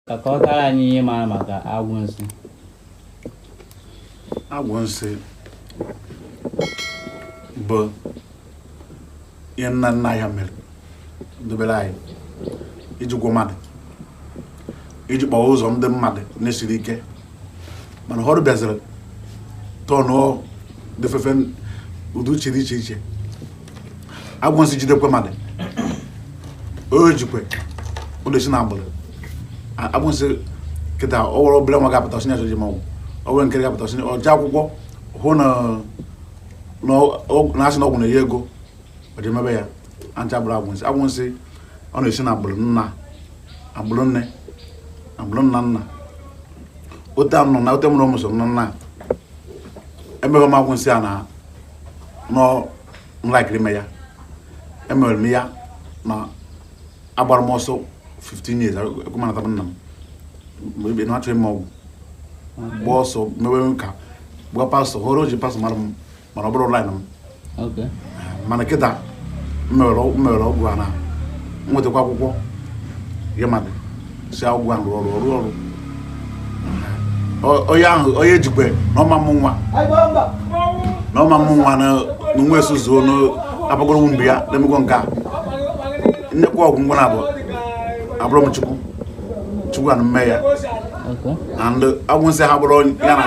ka a kọtara anyị ihe m mara maka agwụ nsị agwụ nsị bụ ihe nna nna ya mere dobere anyị iji gwọ mmadụ iji kpọọ ụzọ ndị mmadụ na-esiri ike mana ụfọdụ bịaziri tọnụọ different ụdị uche dị iche iche agwụ nsị jidekwe mmadụ o jikwe ọ na-esi na agbụrụ agwụ nsị kịta o nwere obere nwa ga-apụta ọ sị na-achọ ịma ọgwụ o nwere nke ga-apụta ọ sị o je akwụkwọ hụ na a sị na ọgwụ na-enye ego ọ ji mebe ya ha ncha bụrụ agwụ nsị agwụ nsị ọ na-esi na agbụrụ nna agbụrụ nne agbụrụ nna nna ote anọ na ote mụrụ ụmụ so nọ nna emebe m agwụ nsị a na nọ nwatakịrị mee ya emere m ya na agbara m ọsọ 15 years ekwemanata m nna m mgbe ebe na achọghị m ọgwụ gba ọsọ mewe nka gba pastọ hụrụ e ji pastọ mara m mana ọ bụrọ line m mana kịta m mewere ọgwụ a na nwetakwa akwụkwọ ya mmadụ sị ọgwụ ahụ rụọ ọrụ ọrụ ọrụ onye ahụ onye ejikwe na ọ ma amụ nwa na ọ ma amụ nwa na nwa esuzuo n'abagoro mgbe ya na-emekwa nke a m nyekwa ọgwụ ngwa na abụ abụrọ m chukwu chukwu na-eme ya and agwụ nsị ha bụrụ ya na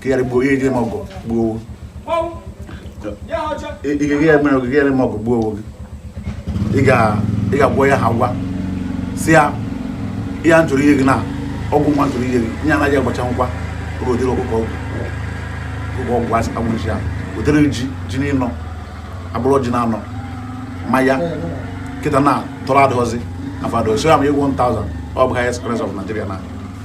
kigharị gbuo ihe gị ma ọgụ gbuo owo igege ya mere ogige ya ma ọgụ gbuo owo gị ị ga-agwọ ya ha gwa si ya ihe m chọrọ inye gị na ọgwụ nwa m chọrọ inye gị nye anaghị agbacha ngwa oge odere ọkụkọ ọgwụ ọkụkọ ọgwụ asị agwụchi ya odere ji ji n'ịnọ abụrụ ji na-anọ mmanya kịta na tọrọ adịghọzi afụ adịghọzi so ya ma ego 1000 ọ bụ highest currency of Nigeria na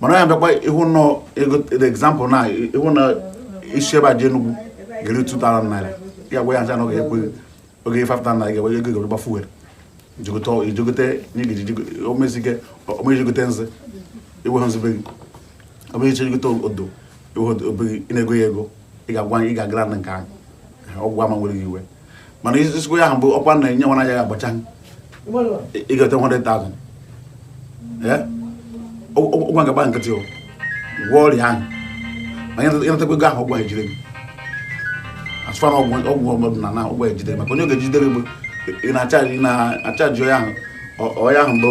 mana onye bịakwa ịhụ nọ example na ịhụ na isi ebe a je Enugu ga-eri 2000 naira ya gwa ya ncha na ọ ga-ekwe oge 5000 naira ga-enwe ego ga-eji gba fuel i je gote omezige o mee i je gote nzu i nwe ha nzu be gị omejiche je gote odo i nwe odo ị na-ego ya ego ị ga-agwa ị ga-agara na nke ahụ ọgwụ ama ewere gị iwe mana isi okwu ya ahụ bụ ọkwa na enye nwana ya agbacha ịgote 100,000 ọgwụ ga-agba nkịtị gwọ ọrịa ahụ ma ị natakwa ego ahụ ọgwụ ejide gị asụfara ọgwụ ọdịnala na ọgwụ ejide maka onye oge jidere gbo ị na-achaji onye ahụ bụ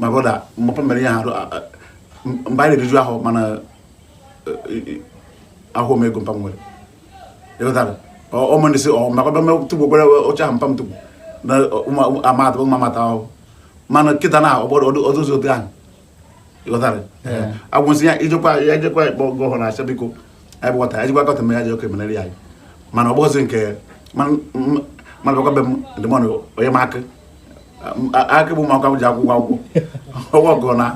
my brother mpa m mere ihe ahụ mgbe anyị na-eriju ahụ mana ahụ m ego mpa m nwere ịghọtara ọmụ ndị si ọ maka bịa tugbo gwere oche ahụ mpa m tugbo na amata ụmụ amata ahụ mana kịta na ọ dụzi otu ahụ ịghọtara agwụ nsị ya ijekwa ya ejekwa ịkpọ gọvanọ asha biko anyị bụkọta anyị jikwa kọta mmiri aja oke menere anyị mana ọ bụghịzi nke mana bịakwa be m ndịmọdụ onye m akị akị bụ ụmụaka m ji akwụkwọ akwụkwọ ọgwụ ọgụ na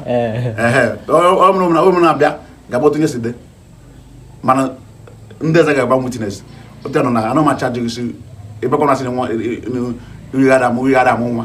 ọmụna ụmụ na-abịa ga-agba otu nye si dị mana ndị eze ga-agba nwu tinyesi otu ya nọ na anụ macha jụgịsi ịbịakwa na asị na nwa irighara amụ irighara amụ nwa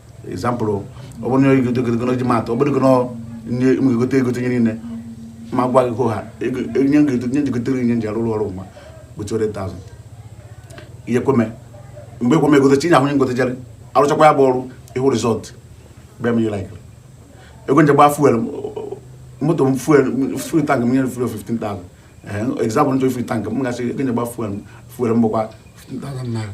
example ọ bụrụ na onye gote gote gote ji matụ ọ bụrụ na nye m ga-egote egote nye niile ma gwa gị ha nye m ga-egote nye jigotere nye nji arụrụ ọrụ ma bụ 200,000 ihe kweme mgbe ekweme egote chi nyahụ nye ngotejarị arụchakwa ya bụ ọrụ ịhụ result bịa m ihe like ego nje gbaa fuel moto m fuel full tank m nyere fuel 15,000 example nchọ full tank m ga-asị ego nje gbaa fuel fuel m bụkwa 15,000 naira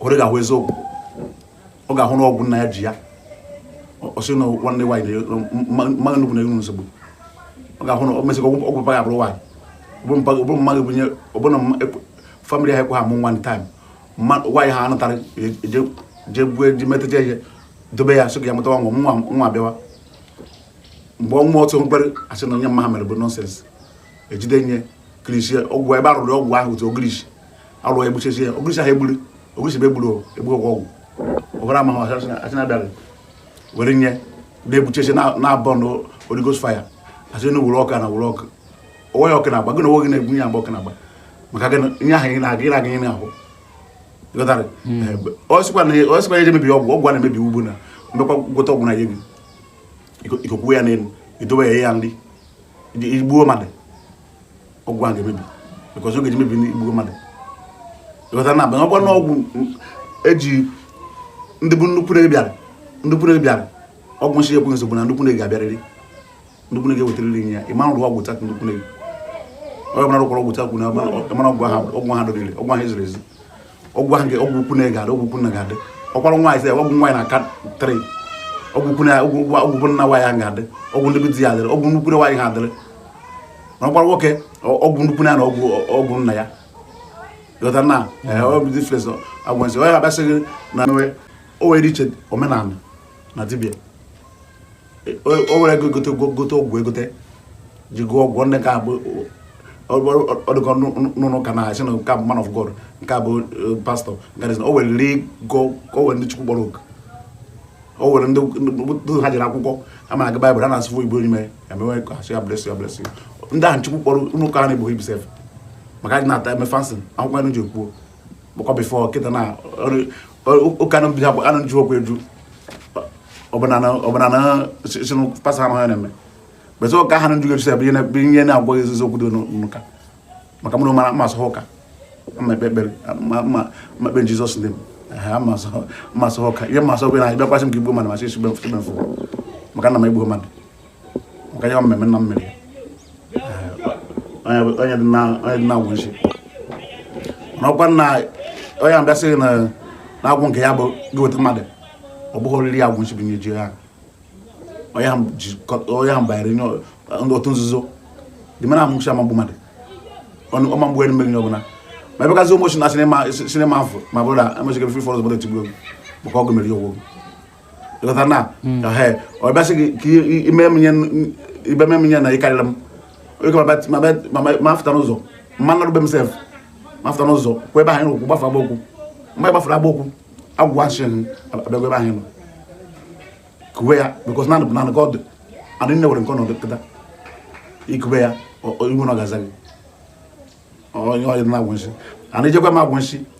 ore ga-ahụ eziokwu ọ ga-ahụ na ọgwụ nna ya ji ya ọ sị na nwanne nwaanyị mmadụ ndị ikwunne enwe nsogbu ọ ga-ahụ na ọ mesịkwa ọgwụ mpa ya bụrụ nwaanyị ọ bụrụ mmadụ bunye ọ bụ na family ha ekwe ha mụ nwanne time nwaanyị ha a nụtara jee gbue ji metụta ihe dobe ya sị ka ya mụtawa nwa nwa bịawa mgbe ọnwa otu ekpere asị na ihe mpa ha mere bụ nonsense ejide nye ogirisi ọgwụ ebe arụrụ ọgwụ ahụ otu ogirisi alụ egbuchezi ya ogirisi ahụ egburu ogirisi bụ egburu egbu ọgwụ ọgwụ ọbara amaghị asị na-abịara were nye na-egbuchezi na-akpọ na Holy Ghost fire asị na were ọka na were ọkụ onwe ya ọkụ na-agba gị na onwe gị na-egbu ya agba ọkụ na-agba maka gị nye ahụ ị na-aga ị na-aga ime ahụ ọ sịkwa na eje mebi ọgwụ ọgwụ a na-emebi ugbu na mbekwa gwọta ọgwụ na ya gị i kokwuwe ya n'elu i dowe ya ya nri i gbuo mmadụ ọgwụ ahụ ga-emebi because ọ ga-eji mebi i gbugo mmadụ ịghọta na abanye ọkwa n'ọgwụ eji ndị bụ ndị ikwunne bịara ndị ikwunne bịara ọgwụ nsi ekwe nsogbu na ndị ikwunne ga-abịarịrị ndị ikwunne ga-ewetarịrị nye ya ịma rụrụ ọgwụ taa ndị ikwunne onye ọbụla rụkwara ọgwụ taa kwuru na ọgwụ ahụ ọgwụ ahụ dọrịrị ọgwụ ahụ eziri ezi ọgwụ ahụ nke ọgwụ ikwunne ga-adị ọgwụ ikwu nna ga-adị ọkwara nwaanyị sị ọgwụ nwaanyị na-aka three ọgwụ ikwu nna nwaanyị ahụ ga-adị ọgwụ ndị be di ya adịrị ọgwụ ndị ikwunne nwaanyị ahụ adịrị na ọkwara nwoke ọ- ọgwụ ndị ikwunne ya na ọgwụ ọgwụ nna ya ịghọta na ọ bụ difference agwụ nsị onye abịa sị gị na o nwere iche omenala na dibịa o were ego gote gote ọgwụ egote ji gwọọ ọgwụ ndị ka abụ ọdụkọ n'ụlọ ụka na-asị na nke bụ man of god nke a bụ eh, pastọ nke o were ri go o were ndị chukwu kpọrọ oku o were ndị ha jere akwụkwọ ama na agụ baịbụl ha na-asụ igbo onye mere emewe asụ ya blesi ya blesi ndị ahụ chukwu kpọrọ ụlọ ụka ha na-ebughị ibu sef maka anyị na-ata eme fancy akwụkwọ anyị ji ekwuo bikos bifọ kịta na ụka na mbido anaghị ejukwa eju ọbụna na sinụ pasa ahụ ya na-eme bete ụka ha na nju ga-ejusa ebe ihe na-agwa gị ezizi okwu dị n'ụka maka mụrụ mara mmasị ha ụka ma ekpe ekpere ma ekpe jizọs ndị m mmasị ha ụka ihe mmasị ọbụla na bịakwasị m ka igbu mmadụ masị isi mfe maka na m egbuo mmadụ Gaya mmemme na mmiri onye dị na agwụ nsi n'ọkwa na onye abịa sị gị na agwụ nke ya bụ gị weta mmadụ ọ bụghị oriri agwụ nsi bụ ihe ji ya onye ahụ banyere n'otu nzuzo dị mara amụchi ọ ma egbu mmadụ ọ ma egbu mmiri nye ọbụla ma ebe gazi ụmụ si na sinima afọ ma bụrụ na emechike fri fọrọs bụrụ etigbu egwu maka ọgụ mere ya ọgwụ ịghọta na hmm. ọ bịa sị gị ime m ihe na ịkarịrị m ma afụta n'ụzọ mma narụbe m sef ma afụta n'ụzọ kwa ebe ahụ n'ụkwụ gbafe agba okwu mgbe gbafere agba okwu agwụ nshi abịagwa ebe ahụ nọ kuwe ya bikos nanụ bụ nanụ ka ọ dị adị nne were nke ọnọdụ kịta ikube ya ị hụ na ọ ga-aza gị onye ọ dị na agwụ nshi ana ijekwa m agwụ nshi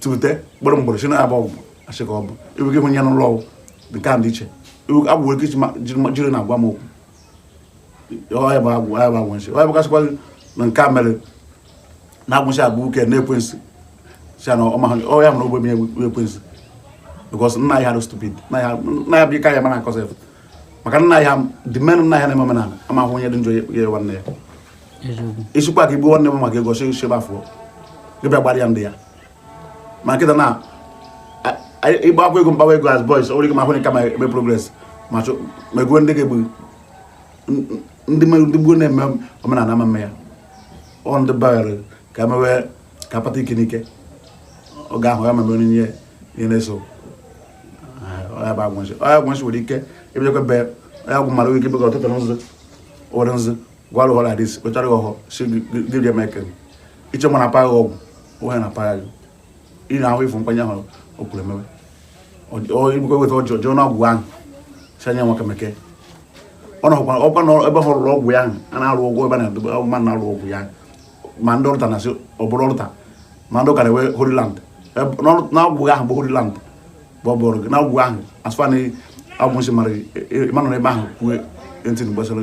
tute gburugburu sị na ya bụ agwụ nsị ka ọ bụ iwu gị hụ ya n'ụlọ ọgwụ nke a dị iche iwu agwụ ike jiri na agwa m okwu ọya bụ agwụ ọya bụ agwụ nsị ọya bụgasịkwa gị na nke a mere na agwụ nsị abụ uke na ekwensu sị na ọma ọya mụrụ ogbe ya ekwensu because nna ya ha stupid nna ya bụ ike ya mara akọsị maka nna ya dị mean nna ya na-eme omenala ama ahụ onye dị njọ ya nwanne ya ị sịkwa ka egbuo nwanne m maka ego si nsebe afọ gị bịa gbara ya ndị ya ma kịta na ịgba akwụ ego mgbawa ego as boys ọ nwere ike ma ahụ nka ma eme progress ma meguo ndị nke gboo ndị gboo na-eme omenala ama eme ya ọ ndị bara ka emewe ka akpata ike n'ike ọ ga-ahụ ya meme onye ihe ihe na-eso ọya bụ agwụ nshi ọya agwụ nshi nwere ike ebidekwa be ọya agwụ mara ike bega ọtụtụ nzụ ụfọdụ nzụ gwara ụhọrọ adịsi kpechara gị ọhọ si gị rie meke iche ma na-apaghị ọgwụ onye na-apaghị gị ị na-ahụ ịfụ mkpanye ahụ o kwuru emewe ibukọ weta ọjọọ jụọ na ọgwụ ahụ si anya nwa kemeke ọ na ọkwa ọkwa na ebe ha rụrụ ọgwụ ya ahụ a na-arụ ụgwọ ebe a na-edobe ahụ mmadụ na-arụ ọgwụ ya ma ndị ọrụta na-asị ọ bụrụ ọrụta ma ndị ụka na-ewe Holyland n'ọgwụ ahụ bụ Holyland bụ ọ bụrụ gị n'ọgwụ ahụ asụfa na Agwụ Nsị mara ịmanụ n'ebe ahụ kwue ntị gbasara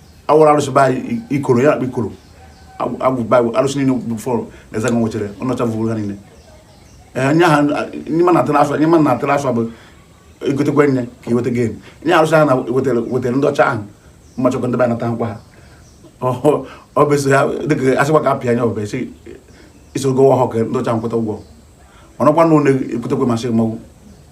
awụrụ arụsị be anyị ikoro ya akpa ikoro agwụ be arụsị niile before na eze nwechara ọ nọcha vuru ha niile nye ha nye ma na-atara afọ nye ma na-atara afọ bụ egotekwa nye ka iweta gin nye arụsị ha na wetara ndị ọcha ahụ mmachọkọ ndị be anata nkwa ha ọ bụ ya dịka asịkwa ka apịa anya ọbụ esi isoro gowa ọhụrụ ka ndị ọcha nkweta ụgwọ ọnọkwa na ụlọ ekwutekwe masị mmanwụ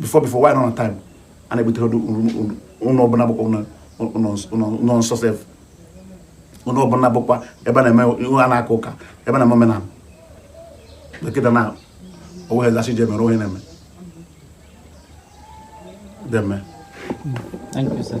before before why not on time a na-ebutere ụlọ ọbụla bụkwa ụlọ nsọ sef ụlọ ọbụla bụkwa ebe a na-eme ihu a na-aka ụka ebe a na-eme omenala dọkịta na onwe ezachi ji emere onye na-eme deme Thank you, sir.